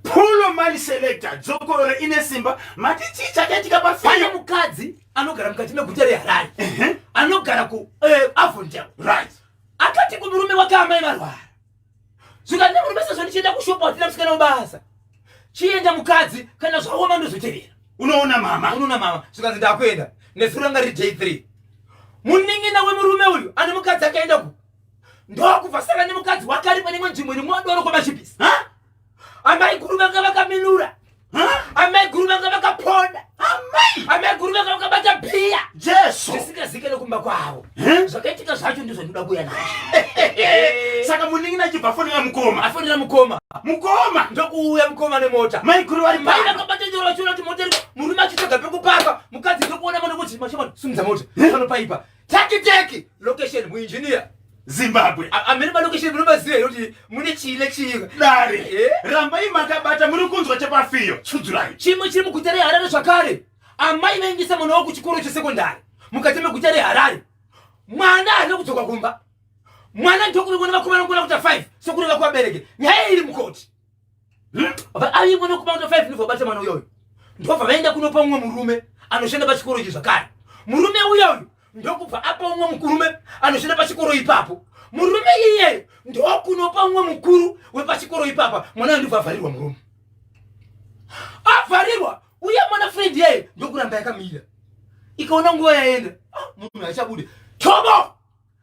Polo mali selector dzokoro ine simba mati chii chakaitika pafaya mukadzi anogara mukati meguta reharare uh -huh. anogara ku uh, eh, avondel right akati kumurume wake amai varwara zvikanzi murume sezvo ndichienda kushopa watina musikana webasa chienda mukadzi kana zvaoma ndozotevera unoona mama unoona mama zvikanzi ndakuenda nezuro ranga riri day three munin'ina wemurume uyu ane mukadzi akaenda ku ndokubva saka nemukadzi wake ari pane imwe nzvimbo iri mwadoro kwamachipisi amai guru vanga vakaminura amai guru vanga vakaponda amai guru vanga vakabata bhiya jesu zvisingazike nekumba kwavo zvakaitika zvacho ndizvo ndinoda kuuya nazvo saka muningi nachibva afonera mukoma afonera mukoma mukoma ndokuuya mukoma nemota mai guru vari mai vakabata nyoro vachiona kuti mota murume achitsvaga pekupaka mukadzi ndokuona mona kuti machimani sumudza mota anopaipa Teki teki location mu engineer Zimbabwe. Amene ma location muno maziva here kuti mune chii nechii. Dare. Eh? Rambai makabata muri kunzwa chepafiyo. Tsudzurai. Chimwe chiri muguta reHarare zvakare. Amai vaendesa mwana wavo kuchikoro chesekondari mukati meguta reHarare. Mwana haana kudzoka kumba. Mwana ndokuringona vakomana ngona kuta 5 sokureva kuvabereki. Nyaya iri mukoti. Ayi mwana kuma ndo 5 ndivyo bata mwana uyo uyo. Ndova vaenda kunopa umwe murume anoshanda pachikoro ichi zvakare. Murume uyo uyo ndokupa apa umwe mukurume anoshanda pachikoro ipapo. Murume iyeyo ndokunopa umwe mukuru wepachikoro ipapa mwana ndivyo avharirwa murume. Avharirwa uye mwana friend yeye ndokuramba yakamira. Ikaona nguva yaenda, ah, munhu achabude. Tobo!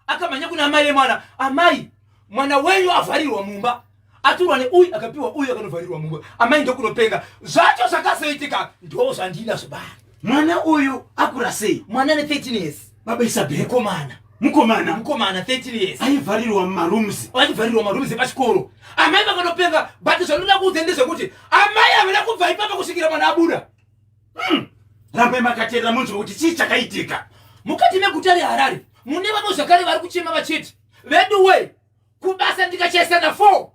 akamhanya kuna amai vemwana amai mwana wenyu avharirwa mumba aturwa neuyu akapiwa uyu akanovharirwa mumba amai ndokunopenga zvacho zvakazoitika ndo zvandinazvo bani mwana uyu akura sei mwana ne 13 years baba isabel komana mukomana mukomana 13 years aivharirwa mumarooms aivharirwa marooms epachikoro amai vakanopenga but zvandinoda kuudza ndezvekuti amai havana kubva ipapa kusvikira mwana abuda Mm. Rambai makateerera munzwe kuti chii chakaitika. Mukati meguta reHarare mune vamwe zvakare vari kuchema vachiti veduwe kubasa ndikachaisana 4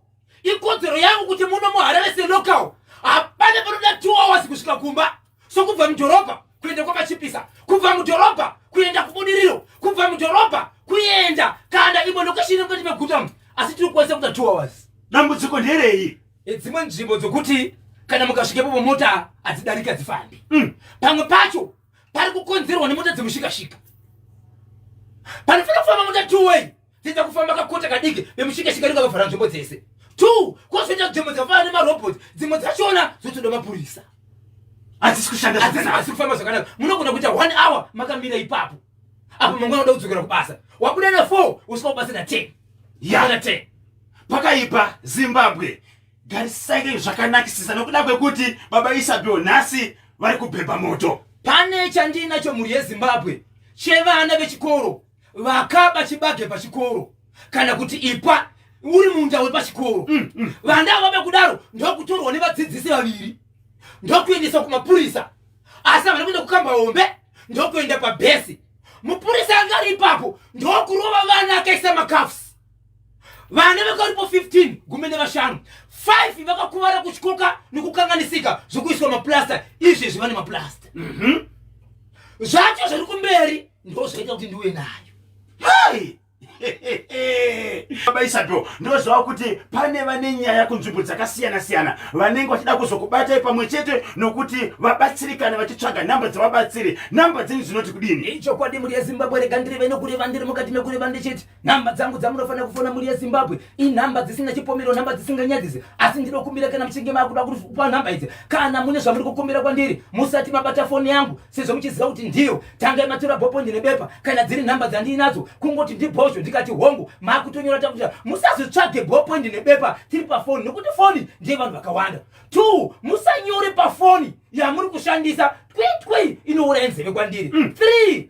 ikodzero yangu kuti muno muHarare selocal hapana panoda 2 hours kusvika kumba sokubva mudhorobha kuenda kwamachipisa kubva mudhorobha kuenda kubudiriro kubva mudhorobha kuenda kana imwe lokeshini mukati meguta asi tiri kukwanisa kuita 2 hours dambudziko nderei Dzimwe nzvimbo dzokuti kana mukasvikepo pomota hadzidarika dzifambi mm. pamwe pacho pari kukonzerwa nemota dzemushikashika panofanira kufamba mota two way dziita kufamba kakota kadiki vemushikashika ringa vavhara nzvimbo dzese two kozoita dzvimbo dzafana nemarobot dzimwe dzachona dzotoda mapurisa hadzisi kushanda hadzisi kufamba zvakanaka munogona kuita one hour makamira ipapo apo mangwana uda kudzokera kubasa wabuda na four usvika kubasa na ten yana ten pakaipa zimbabwe garisai zvakanakisisa nokuda kwekuti baba isabio nhasi vari kubhebha moto pane chandinacho mhuri yezimbabwe chevana vechikoro vakaba chibage pachikoro kana kuti ipa uri munda wepachikoro mm, mm. vanda vave kudaro ndokutorwa nevadzidzisi vaviri ndokuendeswa kumapurisa asi havana kuenda kukamba hombe ndokuenda pabhesi mupurisa anga ari ipapo ndokurova vana akaisa makafs vana vakaripo 15 gumi nevashanu 5 vakakuvara kuchikoka nekukanganisika zvekuiswa maplasta izvi zviva nemaplasta mhm. zvacho zviri kumberi ndo zvaita kuti ndiwe nayo hai baba isabel ndozvava kuti pane vane nyaya kunzvimbo dzakasiyana-siyana vanenge vachida kuzokubatai pamwe chete nokuti vabatsirikana vachitsvaga nhamba dzevabatsiri nhamba dzenyu dzinoti kudini ichokwadi muri yezimbabwe rega ndireve nokureva ndiri mukati mekureva ndechete nhamba dzangu dzamunofanira kufona mhuri yezimbabwe inhamba dzisina chipomero nhamba dzisinganyadzise asi ndinokumbira kana muchinge makuda kupa nhamba idzi kana mune zvamuri kukumbira kwandiri musati mabata foni yangu sezvo muchiziva kuti ndiyo tangai matura bhopo ndine bepa kana dziri nhamba dzandiinadzo kungoti ndibhozvo ndikati hongu makutonyora takuta musazvitsvage bhopo ndine bepa tiri pafoni nekuti foni ndiye vanhu vakawanda t musanyore pafoni yamuri kushandisa twitwi inouraya nzeve kwandiri mm. three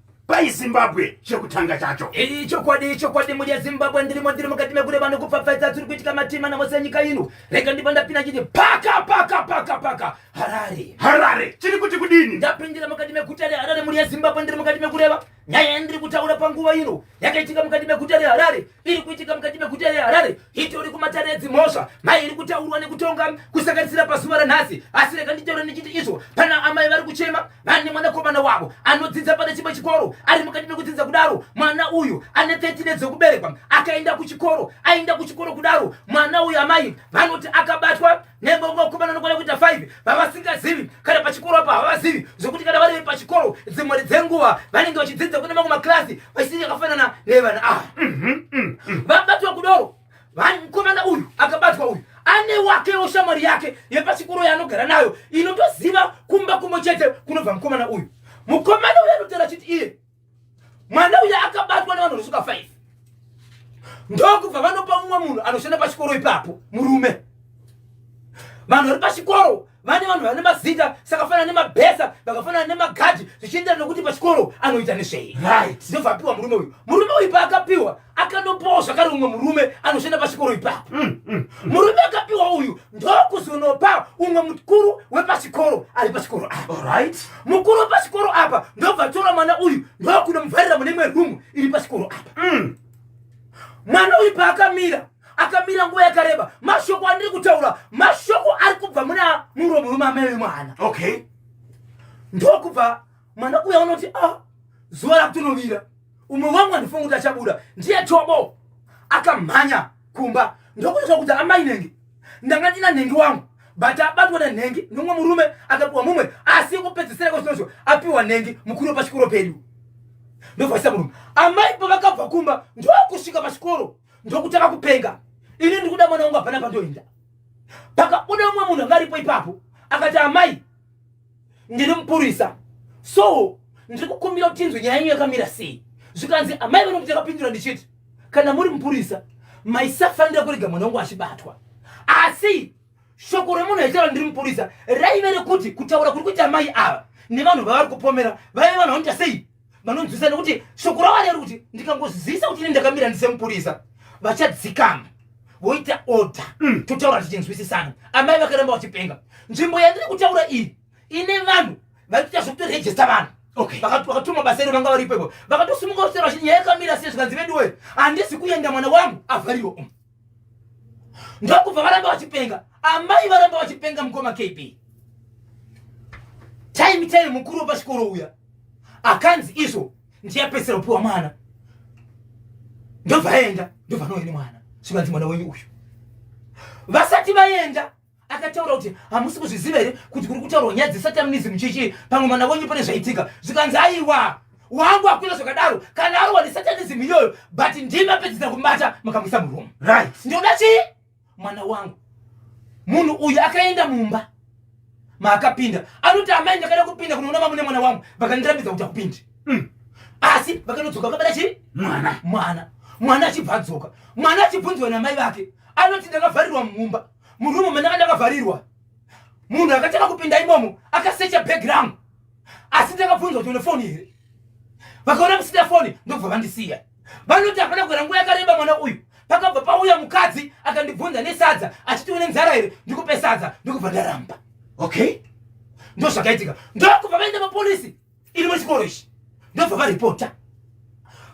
pai zimbabwe chekutanga chacho iyi chokwadi chokwadi mudya zimbabwe ndirimo ndiri mukati mekure vanhu kupfapfaidza tiri kuitika matima namose enyika ino rega ndipa ndapinda chiti paka paka paka paka harare harare chiri kuti kudini ndapindira mukati meguta reharare mudya zimbabwe ndiri mukati mekureva nyaya yandiri kutaura panguva ino yakaitika mukati meguta reharare iri kuitika mukati meguta reharare itori kumatare edzimhosva mai iri kutaurwa nekutonga kusanganisira pazuva ranhasi asi rega nditaure ndichiti izvo pana amai vari kuchema vane mwanakomana wavo anodzidza pane chimwe chikoro ari mukati mekudzidza kudaro mwana uyu ane 13 edzokuberekwa akaenda kuchikoro aenda kuchikoro kudaro mwana uyu amai vanoti akabatwa Nemba vakomana nokwana kuita 5 vavasingazivi kana pachikoro apa havazivi zvokuti kana vari pachikoro dzimwari dzenguva vanenge vachidzidza kune mamwe makirasi vachisiri yakafanana nevana ava mhm, mhm, mhm. vabatwa kudoro mukomana uyu akabatwa uyu ane wakewo shamwari yake yepachikoro yaanogara nayo inotoziva kumba kumwe chete kunobva mukomana uyu mukomana uyu anotaura chiti iye mwana uya akabatwa nevanhu vanosuka 5 ndokubva vanopa mumwe munhu anoshanda pachikoro ipapo murume vanhu vari pachikoro vane vanhu vane mazita sakafanana nemabhesa vakafanana nemagadhi zvichienderana nekuti pachikoro anoita nezvei right ndovapiwa murume uyu murume uyu paakapiwa akanopawo zvakare umwe murume anoshanda pachikoro ipapo mm, mm, mm. murume akapiwa uyu ndokuzonopa umwe mukuru wepachikoro ari pachikoro apa mukuru wepachikoro apa ndobva tora mwana uyu ndokunomuvharira mune imwe rumu iri pachikoro apa mwana uyu paakamira akamira nguva yakareba mashoko andiri kutaura mashoko ari kubva muna muro murume amai wemwana okay ndokubva mwana uya unoti a ah, zuva rakutonovira umwe wangu andifunga kuti achabuda ndiye chobo akamhanya kumba ndokuita kuti amai nenge ndanga ndina nhengi wangu but abatwa nenhengi nomwe murume akapiwa mumwe asi kupedzisira kwezvinozvo apiwa nhengi mukuru pachikoro pedu ndovhaisa murume amai pavakabva kumba ndokusvika pachikoro ndokutanga kupenga ini ndikuda mwana wangu hapana pandoenda pakabuda umwe munhu anga aripo ipapo akati amai ndiri mupurisa so ndiri kukumbira kuti tinzwe nyaya yenyu yakamira sei zvikanzi amai vano kuti yakapindura ndichiti kana muri mupurisa maisafanira kurega mwana wangu achibatwa asi shoko remunhu aitaura ndiri mupurisa raive rekuti kutaura kuri kuita amai ava nevanhu vavari kupomera vaive vanhu vanoita sei vanonzwisa nekuti shoko ravo reri kuti ndikangozivisa kuti ini ndakamira ndisemupurisa vachadzikama voita order mm. totaura tichinzwisisana amai vakaramba vachipenga nzvimbo yandiri kutaura iyi ine vanhu vaitoita zvekutorejesta vanhu vakatuma basa iro vanga varipo ipo vakatosimuka kusera vachiti nyaya yakamira sei zvikanzi veduwe handisi kuenda mwana wangu avhariwo ndokubva varamba vachipenga amai varamba vachipenga mukoma kb time time mukuru wepachikoro uya akanzi izvo ndiyapedzisira kupiwa mwana ndobva aenda ndobva anoenda mwana zvikanzi mwana wenyu uyu vasati vaenda akataura kuti hamusi kuzviziva here kuti kuri kutaurwa nyaya dzesatanism chichii pamwe mwana wenyu pane zvaitika zvikanzi aiwa wangu akuita zvakadaro kana arowa nesatanism iyoyo but ndimi apedzisa kumubata mukamuisa muroom right ndinoda chii mwana wangu munhu uyu akaenda mumba maakapinda anoti amai ndakada kupinda kunoona mamune mwana wangu vakandirambidza kuti akupindi mm. asi vakanodzoka vakabata chii mwana mwana mwana achibva adzoka mwana achibvunziwa namai vake anoti ndakavharirwa mumba murumu mene kandakavharirwa munhu akatanga kupinda imomo akasecha background asi ndakabvunza kuti une foni here vakaona kusina foni ndokubva vandisiya vanoti hapana kugara nguva yakareba mwana uyu pakabva pauya mukadzi akandibvunza nesadza achiti une nzara here ndikupe sadza ndikubva ndaramba okay ndozvakaitika ndokubva vaenda mapolisi iri muchikoro ichi ndobva varipota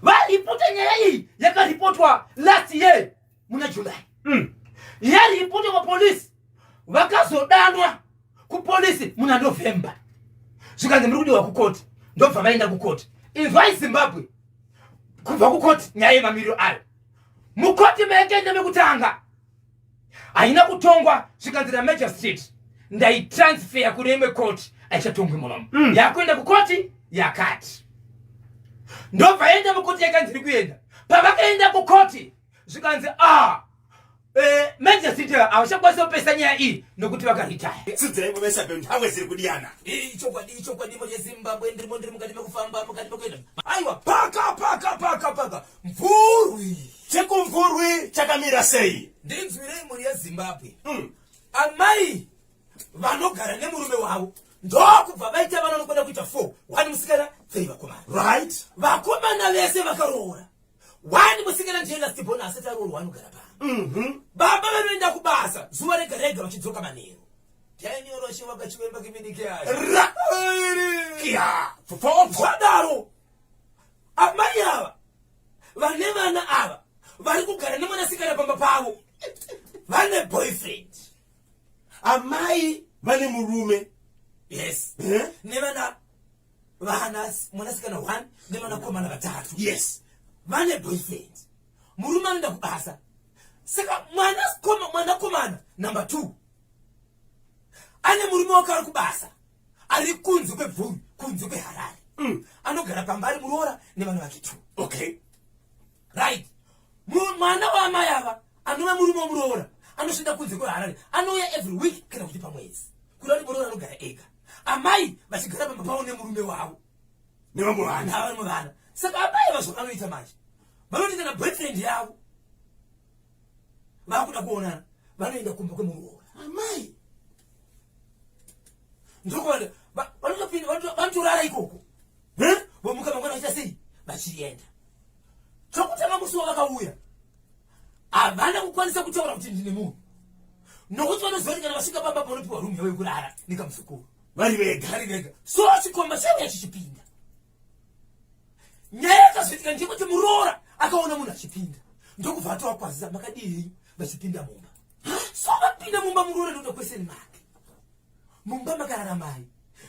varipota nyaya iyi yakaripotwa last year muna july mm. yaripota mapolisi vakazodanwa kupolisi muna november zvikanzi muri kudiwa kukoti ndobva vaenda kukoti inzwai zimbabwe kubva kukoti nyaya yemamiriro ayo mukoti mekende mekutanga haina kutongwa zvikanzi ramagistrate ndaitransfeya kune imwe koti aichatongwi munomo mm. yakuenda kukoti yakati ndobva yaenda mukoti yakanzi iri kuenda pavakaenda kukoti zvikanzi ah eh, majesty havachakwanisa kupesa nyaya iyi nokuti vakaritaya sidzai kuvesa beu nhawe ziri kudiyana ichokwadi ichokwadi moje zimbabwe ndirimo ndiri mukati mekufamba mukati mekuenda aiwa paka paka paka paka mvurwi chekumvurwi chakamira sei ndinzwirei mhuri yezimbabwe mm. amai vanogara nemurume wavo ndokubva vaita vana vanokwenda kuita four wani musikana tei vakomana right vakomana vese vakaroora wani musikana ndiye last born asati aroorwa anogara pano mhm. baba vanoenda kubasa zuva rega rega vachidzoka manheru tiainyoroshe vakachivemba kiminike ayoadaro amai ava vane vana ava vari kugara nemwanasikana pamba pavo vane boyfriend amai vane murume yes eh? nevana vana mwanasikana one nemwanakomana vatatu yes vane boyfriend murume anoenda kubasa saka mwanakomana number two ane murume wake ari kubasa ari kunze kwebvuri kunze kweharare mm. anogara pamba ari muroora nevana vake two okay right mwana waamai ava anova murume womuroora anoshanda kunze kweharare anouya every week kana kuti pamwedzi kuda kuti muroora anogara ega amai vachigara pamba pavo nemurume wavo nevamwe vana vamwe vana saka amai vazvo vanoita manje vanoti kana boyfriend yavo vakuda kuonana vanoenda kumba kwemuroora amai ndokuvanotopinda vanotorara ikoko vomuka mangwana vachiita sei vachienda chokutanga musi wavakauya havana kukwanisa kutaura kuti ndine munhu nokuti vanoziva kuti kana vasvika pamba panopiwa rumu yavo yekurara nekamuzukuru vari vega vari vega so chikomba chaiuya chichipinda nyaya yakazoitika ndiyekuti muroora akaona munhu achipinda ndokubva atovakwazisa makadii vachipinda mumba so vapinda mumba muroora ndoda kwese nemake mumba makarara mai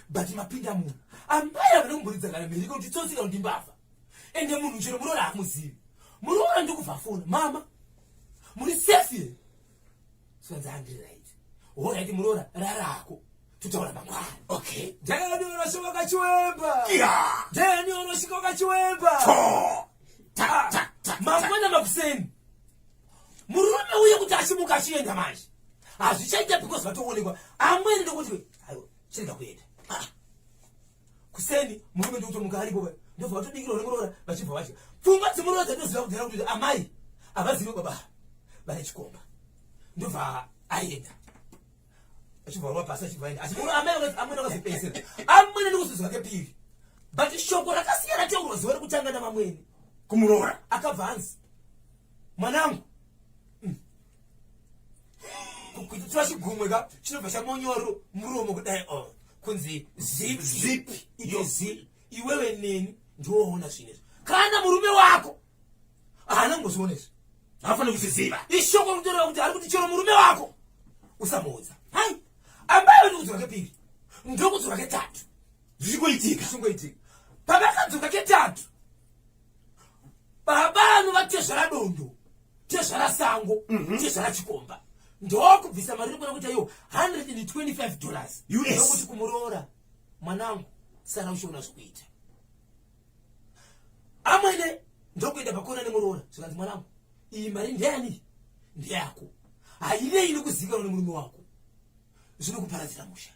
but mapinda munhu amai havana kumburidza kana mhiriko kuti tsotsika kuti mbavha ende munhu chero muroora hamuzivi muroora ndikubva fona mama muri safe here sikanzi handiri right horaiti muroora rarako tutaura mangwana okay ndani unosvika ukachiwemba ndani unosvika ukachiwemba mangwana makuseni murume uye kuti achimuka achienda manje hazvichaita because vatoonekwa amwene ndokuti aiwa chirega kuenda ah. kuseni murume ndokutomuka aripo ndobva vatodikira uri muroora vachibva vatya pfungwa dzemuroora dzatoziva kudhara kuti amai havazive baba vane chikomba ndobva aenda achibva rova pasi achibva aenda asi amai amwene akazopedzera amwene ndikuzozwa kepiri but shoko rakasiyana teuro ziva rekutanga navamwene kumuroora akabva anzi mwanangu mm. kukuitira chigumwe ka chinobva chamonyoro muromo kudai o oh, kunzi zip zip iyo zip iwewe neni ndioona zvinezvi kana murume wako haana kungozviona izvi haafanira kuzviziva ishoko rinotoreva kuti ari kuti chero murume wako usamuudza hai ambayo ndikudzoka kepiri ndokudzoka ketatu zvichikoitika zvichikoitika pavakadzoka ketatu baba anova tezvara dondo tezvara sango mm -hmm. tezvara chikomba ndokubvisa mari rikona kuita iyo 125 dollars yokuti kumuroora mwanangu sara uchiona zvikuita amwene ndokuenda pakona nemuroora zvikanzi mwanangu iyi mari ndeyani ndeyako haive ini kuzikanwa nemurume wako zvinokuparadzira musha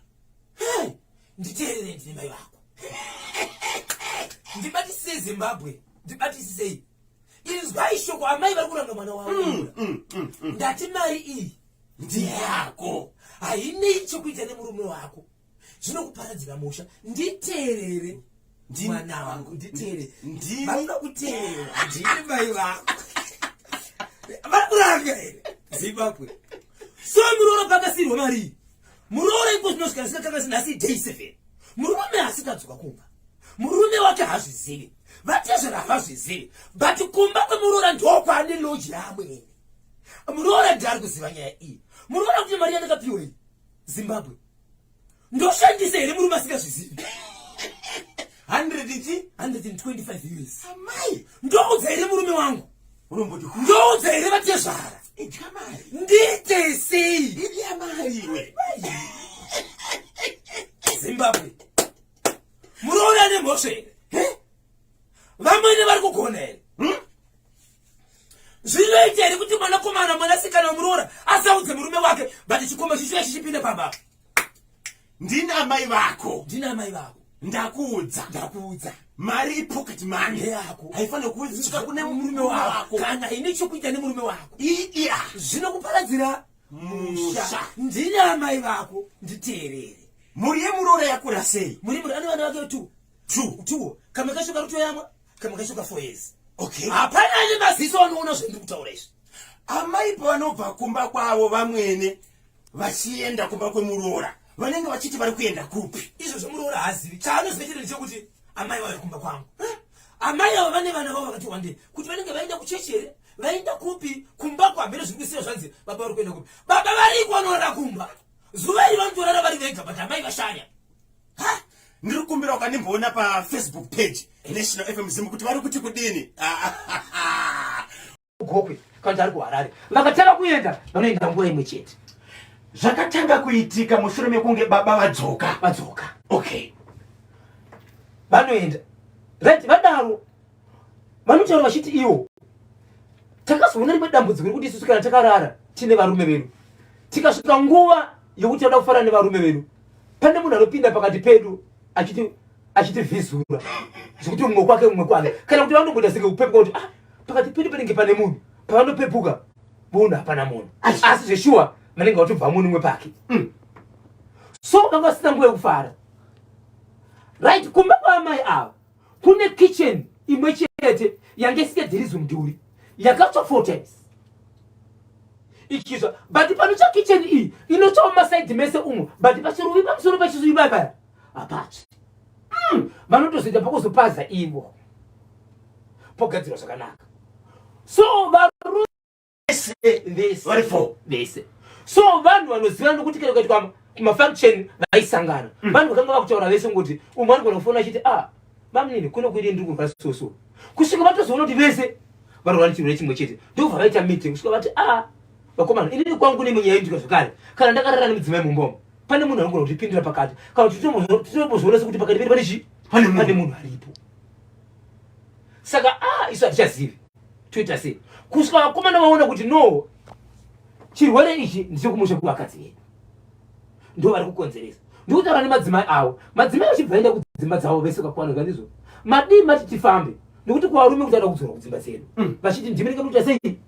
nditeerere ndine mai vako ndibatisisei zimbabwe ndibatisisei inzwai shoko amai vari kuranga mwana wavo mm, mm, mm, ndati mari iyi ndiyako hainei chokuita nemurume wako zvinokuparadzira musha nditeerere mwana wangu nditeere ndini vanoda kuteera ndini mai vangu vari kuranga here zimbabwe so muroora pakasirwa marii muroora iko zvinosvika zvikakakasi nhasi day seven murume asikadzoka kumba murume wake hazvizivi vatezvera havazvizivi but kumba kwemuroora ndokwane loji yaamwene muroora ndiari kuziva nyaya iyi muroora kuti mari yandakapiwa iyi zimbabwe Ndoshandisa here murume asingazvizivi? 125 years. Amai, ndoudza here murume wangu? Unomboti ku? Ndoudza here vatezvara? Idya mari. Ndiite sei? Idya mari iwe. Zimbabwe. Muroora nemhosva here? Vamwene vari kugona here? Hmm? Zvinoita here kuti mwanakomana mwanasikana wemuroora asaudze murume wake but chikomba chichiya chichipinda pamba? ndini amai vako ndini amai vako ndakuudza ndakuudza mari ipocket money yako haifanire kuudzika kune murume wako kana ine chokuita nemurume wako iya zvinokuparadzira musha ndini amai vako nditeerere mhuri yemuroora yakura sei muri muri ane vana vake two two two kamwe kacho kari kutoyamwa kamwe kacho ka four years okay hapana ane maziso anoona zvendiri kutaura izvi amai pavanobva kumba kwavo vamwene vachienda kumba kwemuroora vanenge vachiti vari kuenda kupi izvo zvomuroora haazivi chaanoziva chete ndechekuti amai vave kumba kwangu amai avo vane vana vavo vakati wandei kuti vanenge vaenda kuchechi here vaenda kupi kumba kwamhere zviri kusiya zvanzi baba vari kuenda kupi baba variko vanorara kumba zuva iri vanotorara vari vega but amai vashaya ha ndiri kumbira ukandimboona pafacebook page national fm zim kuti vari kuti kudini Gokwe kana ari kuHarare vakatanga kuenda vanoenda nguva imwe chete. Zvakatanga kuitika mushure mekunge baba vadzoka vadzoka. Okay, vanoenda right, vadaro vanotaura vachiti iwo takazoona rimwe dambudziko rekuti isusu kana takarara tine varume vedu tikasvika nguva yokuti tinoda kufara nevarume vedu pane munhu anopinda pakati pedu achiti achitivhizura zvekuti mumwe kwake mumwe kwake kana kuti vanongoita senge kupepuka kuti ah, pakati pedu panenge pane munhu pavanopepuka voona hapana munhu asi zveshuwa vanenge vatobva munhu umwe pake mm. so vanga vasina nguva yekufara right kumba kwaamai ava kune kitchen imwe chete yange isingadhirizi mudhuri yakatsva four times ichizva but panotsva kitchen iyi inotsvawo masaidi mese umwe but pachiruvi pamusoro pachizuivaivaya hapasi mm, vanotozoita pakuzopaza ivo pogadzirwa zvakanaka so varume vari fo vese so vanhu vanoziva nokuti kana ukaitwa mafunction vaisangana mm. vanhu vakanga vakutaura vese ngokuti umwe anogona kufona achiti a ah, vamunini kuno kuidi ndiri kurwa soso kusvika vatozoona kuti vese varwara chirwere chimwe chete ndobva vaita meeting kusvika vati a ah, vakomana inini kwangu nemunyaya yendika zvekare kana ndakarara nemudzimai mumbomo pane munhu anogona kutipindira pakati kana kuti tinombozvionesa kuti pakati pedu pane chii pane munhu aripo saka a ah, isu hatichazivi toita sei kusvika vakomana vaona kuti no chirwere ichi ndichekumusha kuvakadzi vedu ndo vari kukonzeresa ndikutaura nemadzimai avo madzimai vachibva enda kudzimba dzavo vese kakwana kandizvo madii mati tifambe nekuti kuvarume kuti ada kudzora kudzimba dzedu mm. vachiti ndimi ndinga muita sei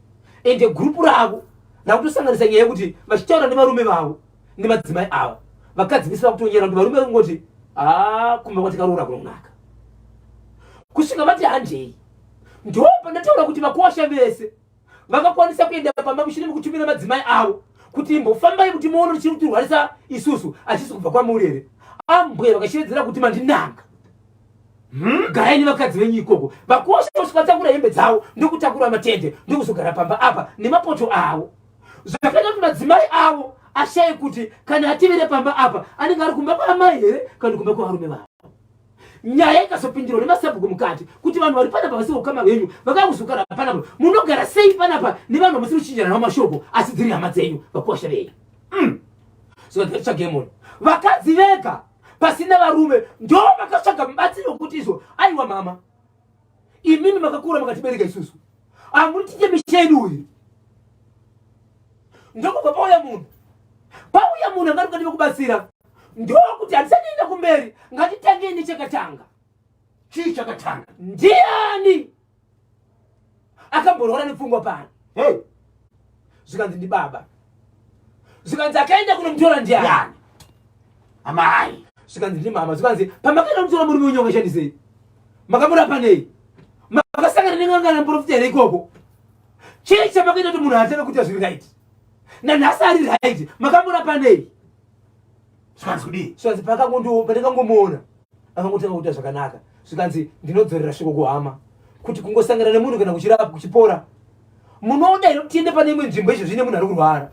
ende gurupu ravo rakutosanganisa nyaya yekuti vachitaura nevarume vavo nemadzimai avo vakadzi vese vakutonyera kuti varume vakungoti haa kumba kwatikaroora kunonaka kusvika vati handei ndo pandataura kuti vakosha vese vakakwanisa kuenda pamba mushure mekutumira madzimai avo kuti imbofambai kuti muone richiri kutirwarisa isusu achisi kubva kwamuri here ambwe vakashevedzera kuti mandinanga Hmm? garai nevakadzi venyu ikoko vakosha kusvika takura hembe dzavo ndokutakura matende ndokuzogara pamba apa nemapoto avo zvakaita kuti madzimai avo ashaye kuti kana ativire pamba apa anenge ari kumba kwaamai here kana kumba kwavarume vavo nyaya ikazopindirwa nemasabhuku mukati kuti vanhu vari panapa vasiri kukama venyu vakakuzogara panapa munogara sei panapa nevanhu vamusiri kuchinjana navo mashoko asi dziri hama dzenyu vakuwasha vei mm. zvakatsvagemon vakadzi vega pasina varume ndo vakatsvaga mubatsiri wekuti izvo aiwa mama Imimi makakura makatibereka isusu. Amutiche misha yedu uyu. Ndokubva pauya munhu. Pauya munhu angati ukadiva kubatsira. Ndokuti handisatienda kumberi ngatitange nechakatanga. Chii chakatanga? Ndiani? akamborwara nepfungwa pano hey. zvikanzi ndibaba zvikanzi akaenda kunomutora ndiani amai zvikanzi ndimama zvikanzi pamakaenda kunomutora murume wenyu wakashandisei makamurapa nei makasangana nengangana muprofita here ikoko chii chamakaita kuti munhu hateve kuita zviri right nanhasi ari right makamurapa nei zvikanzi kudii zvikanzi pakangondipandikangomuona akangotanga kuita zvakanaka zvikanzi ndinodzorera shoko kuhama kuti kungosangana nemunhu kana kuchirapa kuchipora munoda ino tiende pane imwe nzvimbo izvo zvine munhu ari kurwara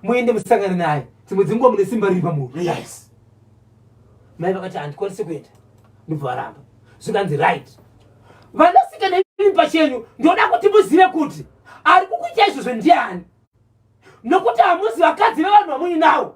muende musangane naye dzimwe dzinguva mune simba riri pamunhu yes mai vakati handikwanisi kuenda ndobva varamba zvikanzi right vanasikana ii pachenyu ndoda kuti muzive kuti ari kukuita izvozvo ndiani nokuti hamuzi vakadzi vevanhu vamuinavo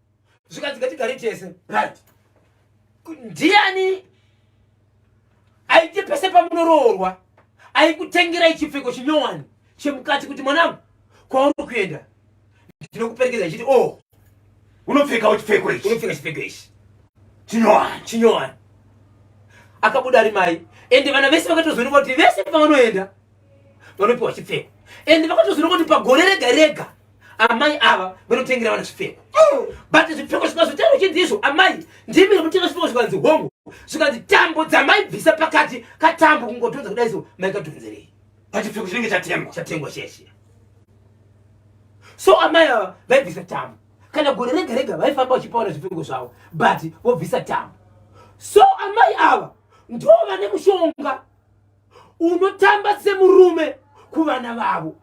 zvikanzi ngatigare tese right ndiani aite pese pamunoroorwa aikutengera ichipfeko chinyowani chemukati kuti mwanangu kwauri kuenda ndinokuperekedza ichiti o oh, unopfekawo chipfeko ichi unopfeka chipfeko ichi chinyowani chinyowani akabuda ari mai ende vana vese vakatozoneka kuti vese pavanoenda vanopiwa chipfeko ende vakatozoneka kuti pagore rega rega amai ava vanotengera vana zvipfeko but zvipfeko zvikazotaura uchinzi izvo amai ndimi rinotenga zvipfeko zvikanzi hongu zvikanzi tambo dzamai bvisa pakati katambo kungotonza kudai so maikadhonzerei pachipfeko chinenge chatengwa chatengwa cheshe so amai ava vaibvisa tambo kana gore rega rega vaifamba vachipaona zvipfeko zvavo but vobvisa tambo so amai ava ndo vane mushonga unotamba semurume kuvana vavo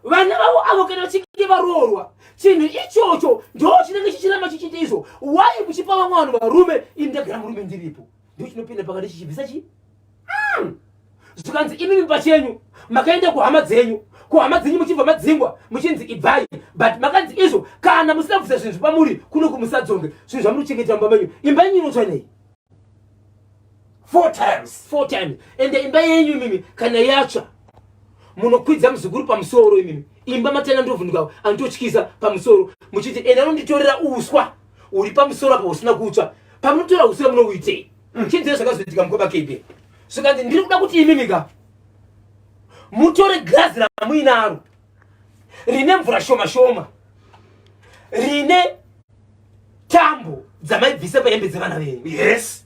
vana vavo avo kana vachinge varoorwa chinhu ichocho ndo chinenge chichiramba chichiita izvo wai kuchipa vamwe vanhu varume ini ndagara murume ndiripo ndo chinopinda pakati chichibvisa chii hmm. zvikanzi imi mimba chenyu makaenda kuhama dzenyu kuhama dzenyu muchibva madzingwa muchinzi ibvai but makanzi izvo kana musina kubvisa zvinhu zvepamuri kuno kumusadzonge zvinhu zvamuri kuchengeta mumba menyu imba yenyu inotsva nei four times four times ende imba yenyu imimi kana yatsva munokwidza muzukuru pamusoro imimi imba matenda ndovhunduka anototyiza pamusoro muchiti ende anonditorera uswa uri pamusoro apa usina kutsva pamunotora uswa munouitei mm. chinzee zvakazoitika mukoma kebe zvikanzi ndiri kuda kuti imimika mutore girazi ramuinaro rine mvura shoma shoma rine tambo dzamaibvisa pahembe dzevana venyu yes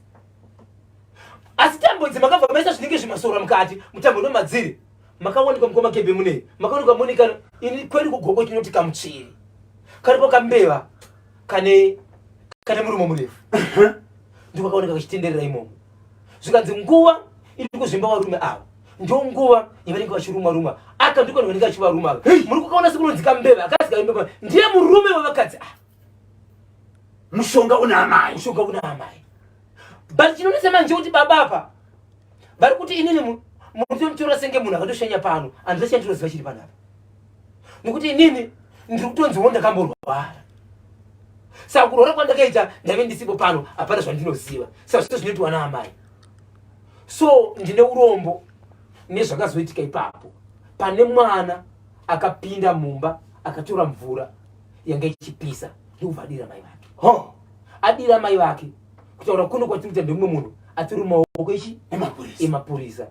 asi tambo idzi makabva maisa zvinenge zvimasora mukati mutambo nomadziri makawanikwa mukoma kebe munei makawanikwa monika ini kwedu kugoko tinoti kamutsviri karipo kambeva kane kane murumo murefu ndiko kaoneka kachitenderera imomo zvikanzi nguva iri kuzvimba varume ava ndonguva yavanenge vachiruma ruma aka ndiko vanenge vachivaruma ava muri kukaona sekunonzika mbeva akazi kaimbeva ndiye murume wevakadzi ah. mushonga una amai mushonga una amai but chinonese manje kuti baba apa vari kuti inini munotomutora senge munhu akatoshanya pano andisa chandinoziva chiri panapa nokuti inini ndiri kutonziwo ndakamborwara saka kurwara kwandakaita ndaive ndisipo pano hapana zvandinoziva saka zvito zvinoitwa naamai so ndine urombo nezvakazoitika ipapo pane mwana akapinda mumba akatora mvura yanga ichipisa ndokubva adira mai vake ho adira mai vake kutaura kuno kwatiri kuita ndemumwe munhu atiri mumaoko ichi emapurisa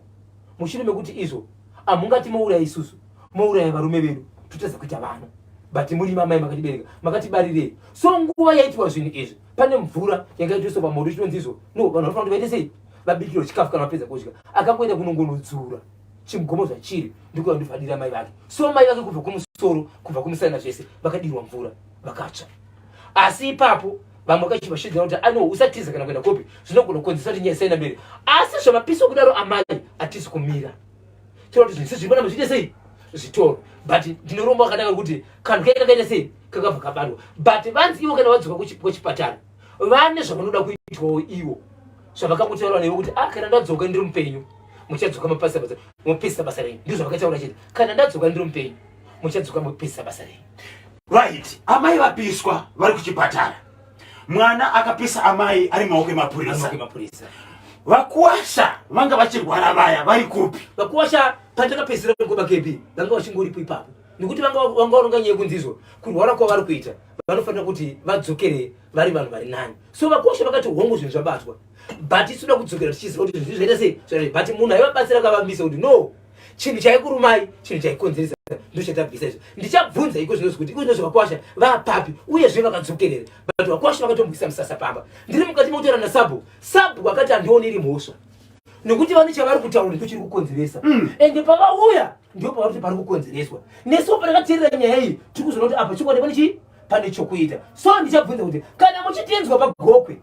mushure mekuti izvo amungati mouraya isusu mouraya varume vedu totadza kuita vana but muri mamai makatibereka makatibarirei so nguva yaitwa zvinhu izvi pane mvura yanga itoiswa pamoto chinonzi izvo no vanhu vanofanira kuti vaite sei vabikirwa chikafu kana vapedza kudya akangoenda kunongonodzura chimugomo zvachiri ndikuva ndivadira mai vake so mai vake kubva kumusoro kubva kumusana zvese vakadirwa mvura vakatsva asi ipapo vamwe vakachiva shedzera kuti ano usatiza kana kuenda kopi zvinogona kukonzesa kuti nyaya isaenda mberi asi zvamapisi okudaro amai atisi kumira chero kuti zvese zviri panapa zviite sei zvitoro but ndinoromba wakanaka kuti kanhu kaika kaita sei kakabva kabatwa but vanzi ivo kana vadzoka kuchipatara vane zvavanoda kuitwawo ivo zvavakakutaura newe kuti ah kana ndadzoka ndiri mupenyu muchadzoka mapasa basa mopisa basa renyu ndizvo zvavakataura chete kana ndadzoka ndiri mupenyu muchadzoka mopisa basa renyu right amai vapiswa vari kuchipatara mwana akapisa amai ari maoko emapurisa vakuwasha vanga vachirwara vaya vari kupi vakuwasha pandakapedzisira kuba kebi vanga vachingoripo ipapo nekuti vanga varonga nyaya yekunzizwa kurwara kwavari kuita vanofanira kuti vadzokere vari vanhu vari nani so vakuwasha vakati hongu zvinhu zvabatwa but isuda kudzokera tichiziva kuti zvinhu zvaita sei but munhu aivabatsira akavambisa kuti no chinhu chaikurumai chinhu chaikonzeresa ndochatabvisa izvo ndichabvunza iko zvinozvi kuti iko zvinozvi vakwasha vapapi uyezve vakadzokerera but vakwasha vakatombwisa musasa pamba ndiri mukati mokutaura nasabu sabu akati andione iri mhosva nekuti vane chavari kutaura ndo chiri kukonzeresa mm. ende pavauya ndo pavari kuti pari kukonzereswa nesu patakateerera nyaya iyi tiri kuzoona kuti apa chikwadi pane chii pane chokuita so ndichabvunza kuti kana muchitenzwa pagokwe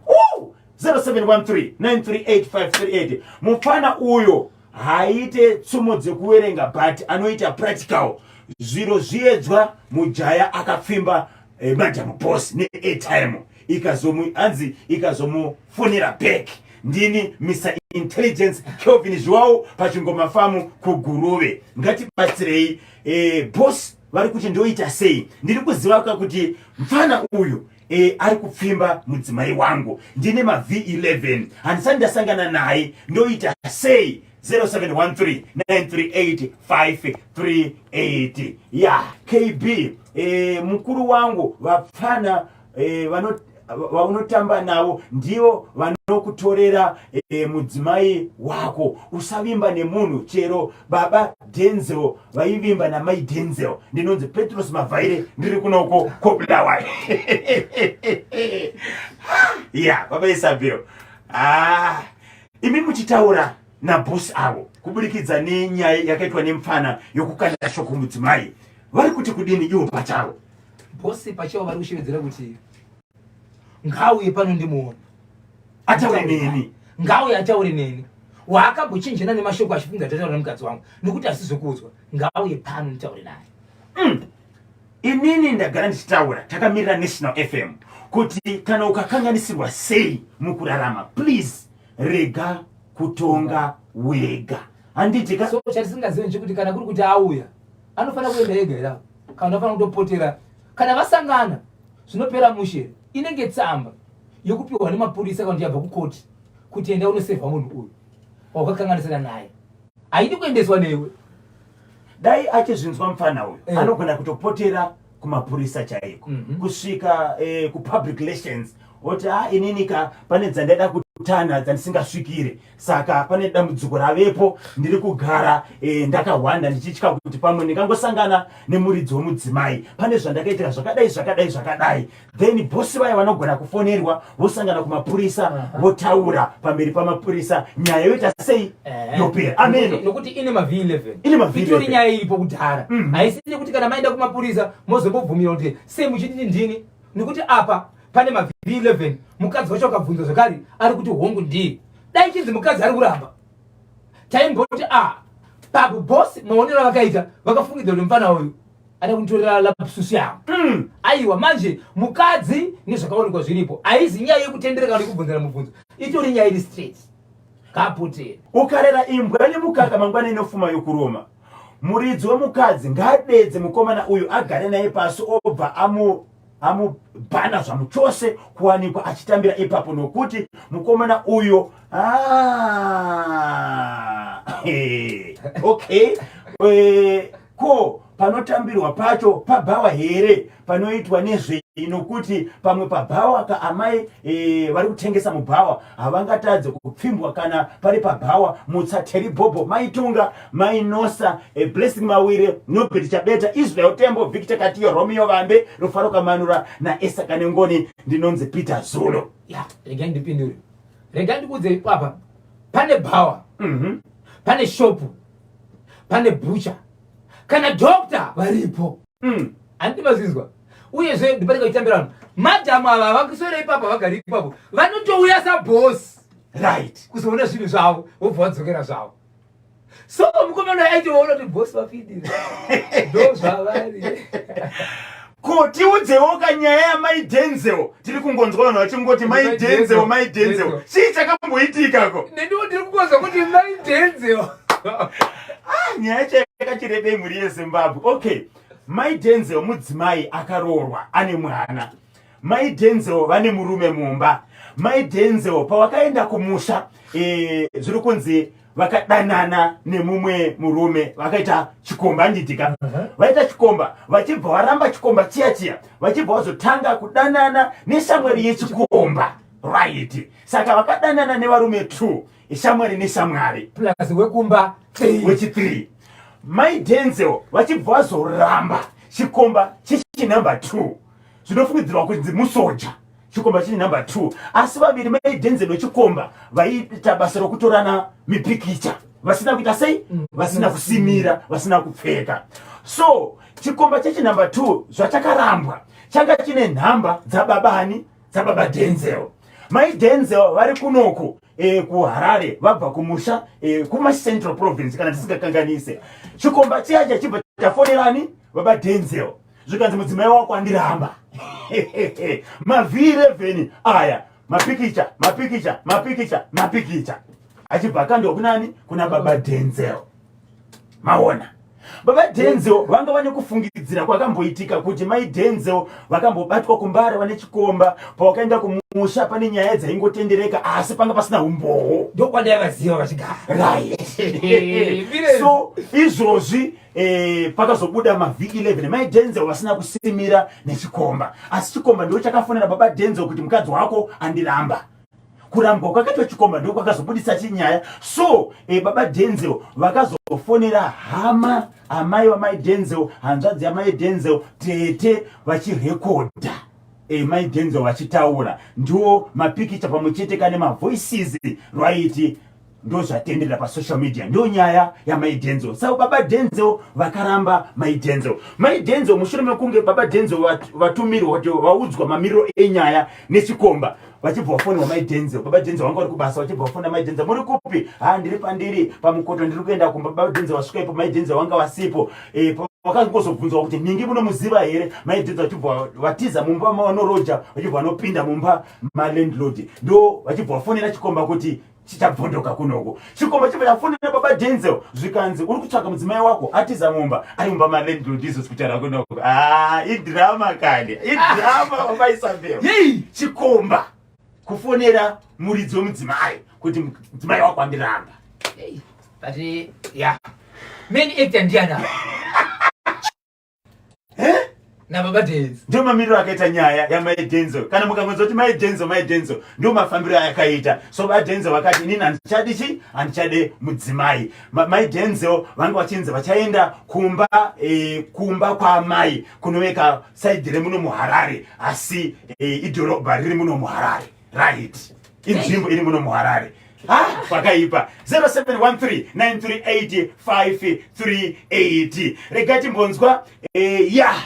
0713 938 538 mupfana uyo haaite tsumo dzekuverenga but anoita practical zviro zviedzwa mujaya akapfimba eh, madam boss neairtime ikazomu anzi ikazomufonera back ndini mr intelligence kelvin zviwawo pachingoma famu kuguruve ngatibatsirei eh, boss vari kuti ndoita sei ndiri kuziva ka kuti mfana uyu E, ari kupfimba mudzimai wangu ndine mav11 handisati ndasangana naye ndoita sei 0713938538 ya kb e, eh, mukuru wangu vapfana e, vano vaunotamba navo ndivo vanokutorera e, mudzimai wako usavimba nemunhu chero baba Denzel vaivimba namai Denzel ndinonzi Petros Mavhaire ndiri kuno uko koBulawayo ya baba Isabel ah imi muchitaura nabhosi avo kuburikidza nenyaya yakaitwa nemfana yokukanda shoko mudzimai vari kuti kudini ivo pachavo bhosi pachavo vari kushevedzera kuti ngauye pano ndimuone ataure neni ngauye ataure neni waakambochinjana nemashoko achifunga tataura nemukadzi wangu nekuti asizokuudzwa ngauye pano nditaure naye mm. inini ndagara ndichitaura takamirira national fm kuti kana ukakanganisirwa sei mukurarama please rega kutonga wega handiti so chatisingazivi nchekuti kana kuri kuti auya anofanira kuenda ega ira kana anofanira kutopotera kana vasangana zvinopera mushe inenge tsamba yokupiwa nemapurisa kana kuti yabva kukoti kuti enda unosevha munhu uyu wakakanganisira naye haidi kuendeswa newe dai achizvinzwa mupfana uyu eh. anogona kutopotera kumapurisa chaiko mm -hmm. kusvika eh, kupublic relations oti ha ah, ininika pane dzandaida kutana dzandisingasvikire saka pane dambudziko ravepo ndiri kugara e, ndakahwanda ndichitya kuti pamwe ndingangosangana nemuridzi wemudzimai pane zvandakaitira zvakadai zvakadai zvakadai then bosi vaya vanogona kufonerwa vosangana kumapurisa votaura pamberi pamapurisa nyaya yoita sei eh. yopera ameno nokuti ine mavhii 11 ine mavhii itori nyaya iripo kudhara mm-hmm. haisi nekuti kana maenda kumapurisa mozombobvumira kuti sei muchititi ndini nekuti apa pane mavhiri 11 mukadzi wacho akabvunza zvekare ari kuti hongu ndiye dai chinzi mukadzi ari kuramba taimboti a ah, papo bosi maonero avakaita vakafungidza kuti mfana uyu ada kunitorera lapsusi yavo mm. aiwa manje mukadzi nezvakaonekwa zviripo haizi nyaya yekutendereka kana yekubvunzana mubvunzo itori nyaya iri straight kaputera ukarera imbwa nemukaka mangwana inofuma yokuroma muridzi wemukadzi ngaadedze mukomana uyu agare naye pasi obva amu amubhana zvamuchose kuwanikwa achitambira ipapo nokuti mukomana uyo ah, okay eh, ko panotambirwa pacho pabhawa here panoitwa nezvei nokuti pamwe pabhawa ka amai e, vari kutengesa mubhawa havangatadze kupfimbwa kana pari pabhawa mutsa teribhobho maitunga mainosa a blessing mawire nobert chabeta israel tembo victor katiyo romeo vambe rufaro kamanura naesa kanengoni ndinonzi peter zulu ya rega ndipindure rega ndikuudze ipapa pane bhawa mm -hmm. pane shopu pane bhucha kana dokta varipo mm. andivazinzwa uyezve ndipati kachitambira vanhu madhamu ava vakisore ipapo vagari ipapo vanotouya sabhosi right kuzoona zvinhu zvavo vobva vadzokera zvavo so mukomana aitiwa unoti bosi vapindira ndo zvavari ko tiudzewoka nyaya yamai denzel tiri kungonzwa vanhu vachingoti mai denzel mai denzel chii chakamboitikako nendiwo ndiri kungonzwa kuti mai denzel ah, nyaya chayakachirebei mhuri yezimbabwe okay mai denzel mudzimai akaroorwa ane mwana Mai Denzel vane murume mumba. Mai Denzel pavakaenda kumusha e, zviri kunzi vakadanana nemumwe murume vakaita chikomba ndidika uh -huh. vaita chikomba vachibva varamba chikomba chiya chiya vachibva vazotanga kudanana neshamwari yechikomba right saka vakadanana nevarume two ishamwari neshamwari plus wekumba wechi three mai denzel vachibva vazoramba chikomba chichinumber two zvinofungidzirwa kunzi musoja chikomba chiri number two asi vaviri mai denzel wechikomba vaiita basa rokutorana mipikicha vasina kuita sei mm. vasina kusimira vasina kupfeka so chikomba chechinumber two zvachakarambwa changa chine nhamba dzababa ani dzababa denzel mai denzel vari kunoku e, kuharare vabva kumusha e, eh, kumacentral province kana tisingakanganise chikomba chiya chachibva chafonerani baba denzel zvikanzi mudzimai wako andiramba mavhiri evheni aya mapikicha mapikicha mapikicha mapikicha achibva akandwa kunani kuna baba denzel maona baba denzel vanga vane kufungidzira kwakamboitika kuti mai denzel vakambobatwa kumbare vane chikomba pawakaenda kumusha pane nyaya dzaingotendereka asi panga pasina umbowo ndokwandaivaziva vachigara right so izvozvi eh, pakazobuda mavhi 11 mai denzel vasina kusimira nechikomba asi chikomba ndoo chakafonera baba denzel kuti mukadzi wako andiramba kurambwa kwakaitwa chikomba ndoo kwakazobudisa chinyaya so eh, baba denzel vakazofonera hama amai vamai denzel hanzvadzi yamai denzel tete vachirekodha e, mai denzel vachitaura ndiwo mapikicha pamwe chete kane mavoices rwaiti ndozvatenderera pasocial media ndiyo nyaya yamai denzo saka baba denzo vakaramba mai denzo mai denzo mushure mekunge baba denzo vatumirwa kuti vaudzwa mamiriro enyaya nechikomba vachibva vafonirwa mai denzo baba denzo vanga vari kubasa vachibva vafonira mai denzo muri kupi ha ndiri pandiri pamukoto ndiri kuenda kumba baba denzo vasvika ipo mai denzo vanga vasipo e, vakangozobvunzwa kuti ningi munomuziva here mai denzo vachibva vatiza mumba mavanoroja vachibva vanopinda mumba malandlord ndo vachibva vafonera chikomba kuti chichabvondoka kunoko chikomo chibva chafonera baba denzel zvikanzi uri kutsvaga mudzimai wako atiza mumba ari mumba malandlord izos kutaura kunoko ah, idrama kani idrama vamaisambeo yei chikomba kufonera muridzi wemudzimai kuti mudzimai wako andiramba but ya many actor ndiana nababa denzo ndio mamiriro akaita nyaya yamai denzo kana mukangonza kuti mai denzo mai denzo ndio mafambiro ayakaita so vadenzo vakati inini handichadi chi handichade mudzimai Ma, mai denzo vanga vachinzi vachaenda kumba e, kumba kwaamai kunoveka saidhi remuno muharare asi e, idhorobha riri muno muharare right inzvimbo iri muno muharare pakaipa 0713938538 rega timbonzwa eh, ya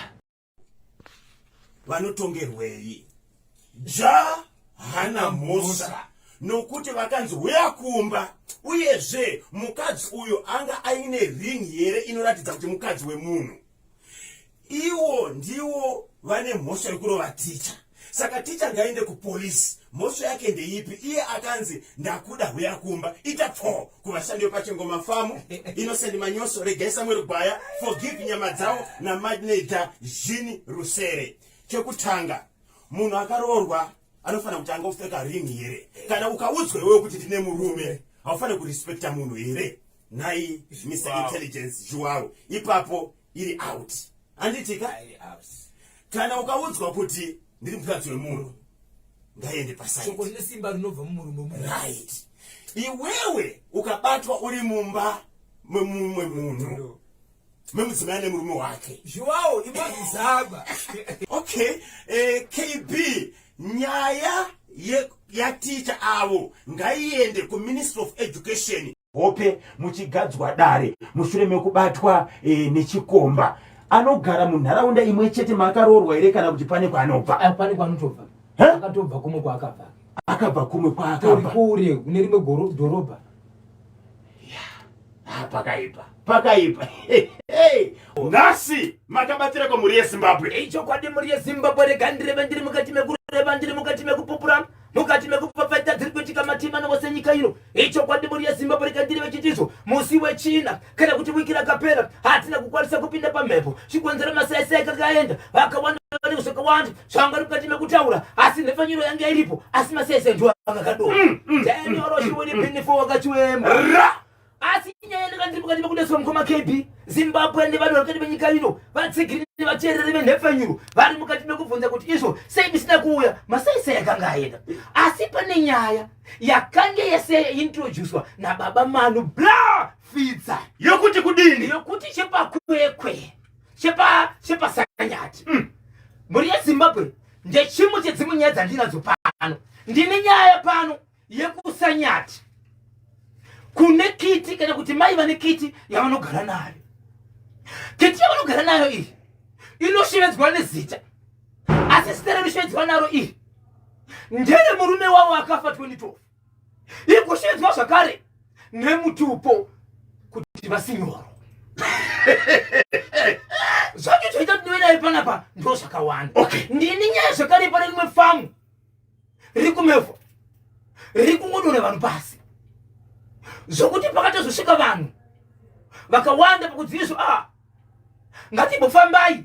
vanotongerwei ja hana mhosva nokuti vakanzi huya kumba uyezve mukadzi uyo anga aine ring here inoratidza kuti mukadzi wemunhu iwo ndiwo vane mhosva yekurova ticha saka ticha ngaende kupolisi mhosva yake ndeipi iye akanzi ndakuda huya kumba ita pfoo kuvashandi vepachengoma famu inosendi manyoso regai samueri gwaya forgive nyama dzavo namadneja zhini rusere chekutanga munhu akaroorwa anofanira kuti anga kupfeka ring here kana ukaudzwa iwewe kuti ndine murume haufanire kurespecta munhu here nhai zvimisa wow. intelligence zhuwaro ipapo iri out handitika kana ukaudzwa kuti ndiri mukadzi wemunhu ngaende pasaishoko rine simba rinobva mumurume mu right iwewe ukabatwa uri mumba memumwe munhu memudzimai ane murume wake zviwawo imazizaba okay uh, eh, kb nyaya yaticha avo ngaiende kuministry of education hope muchigadzwa dare mushure mekubatwa e, nechikomba anogara munharaunda imwe chete maakaroorwa here kana kuti pane kwaanobva eh, pane kwaanotobva akatobva kumwe kwaakabva akabva kumwe kwaakabva kure kune rimwe dhorobha Ah, pakaipa pakaipa nhasi makabatira ko mhuri yezimbabwe ichokwadi mhuri yezimbabwe rega ndireve ndiri mukati mekureva ndiri mukati mekupupura mukati mekupfapfaita dziri kuitika matima navo senyika ino ichokwadi mhuri yezimbabwe rega ndiri vechitizvo musi wechina kana kuti wiki rakapera hatina kukwanisa kupinda pamhepo chikonzero masaisai kakaenda vakawanda vanenge zvakawanda zvanga vari mukati mekutaura asi nhepfanyuro yanga iripo asi masaisai ndiwo anga kadoo mm, mm, danioroshiwonipinifo mm. wakachiwema asi nyaya yandanga ndiri mukati mekudeswa mukoma kb zimbabwe nevanhu vari mukati menyika ino vatsigiri nevateereri venhepfanyuro vari mukati mekubvunza kuti izvo sei misina kuuya masaisai akanga aenda asi pane nyaya yakange yese introducwa nababa manu bla fidza yokuti kudini yokuti chepakwekwe chepa chepasanyati mm. mhuri yezimbabwe ndechimwe chedzimwe nyaya dzandinadzo pano ndine nyaya pano yekusanyati kune kiti kana kuti mai vane kiti yavanogara nayo kiti yavanogara nayo iyi inoshevedzwa nezita asi zita rinoshevedzwa naro iri ndere murume wavo akafa 2012 ikushevedzwa zvakare nemutupo kuti vasinyoro zvacho zvaita kuti ndive naye panapa ndo zvakawanda ndini nyaya zvakare pane rimwe famu riri kumevho riri kungodora vanhu pasi zvokuti pakatozosvika vanhu vakawanda pakudziviswa a ah, ngatimbofambai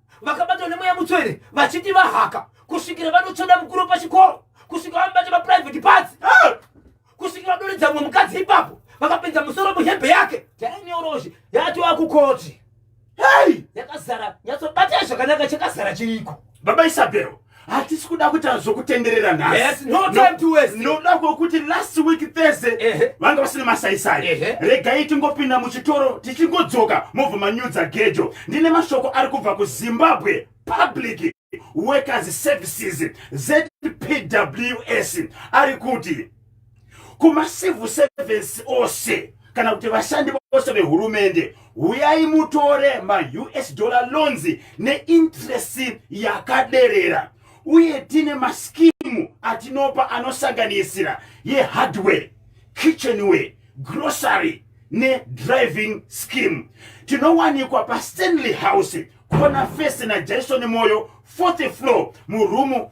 vakabatwa nemweya mutsvene vachiti vahaka kusvikira vanotsvoda mukuru pachikoro kusvika vamubate maprivate parts ah! kusvikira vadoredza mumwe mukadzi ipapo vakapinza musoro muhembe yake tainyorozhi yatova kukoti hei yakazara nyatsobatei zvakanaka chakazara chiriko baba isabhero hatisi kuda kuti azokutenderera nhasinoda kwokuti last week thursday vanga vasina masaisai regai tingopinda muchitoro tichingodzoka mobva manyudza gejo ndine mashoko ari kubva kuzimbabwe public workers services zpws ari kuti kumacivil service ose kana kuti vashandi vose vehurumende huyai mutore maus dollar loans neinterest yakaderera uye tine maskimu atinopa anosanganisira yehardware kitchenware grocery nedriving scheme tinowanikwa pastanley house kona fese najaison moyo fourth floor murumu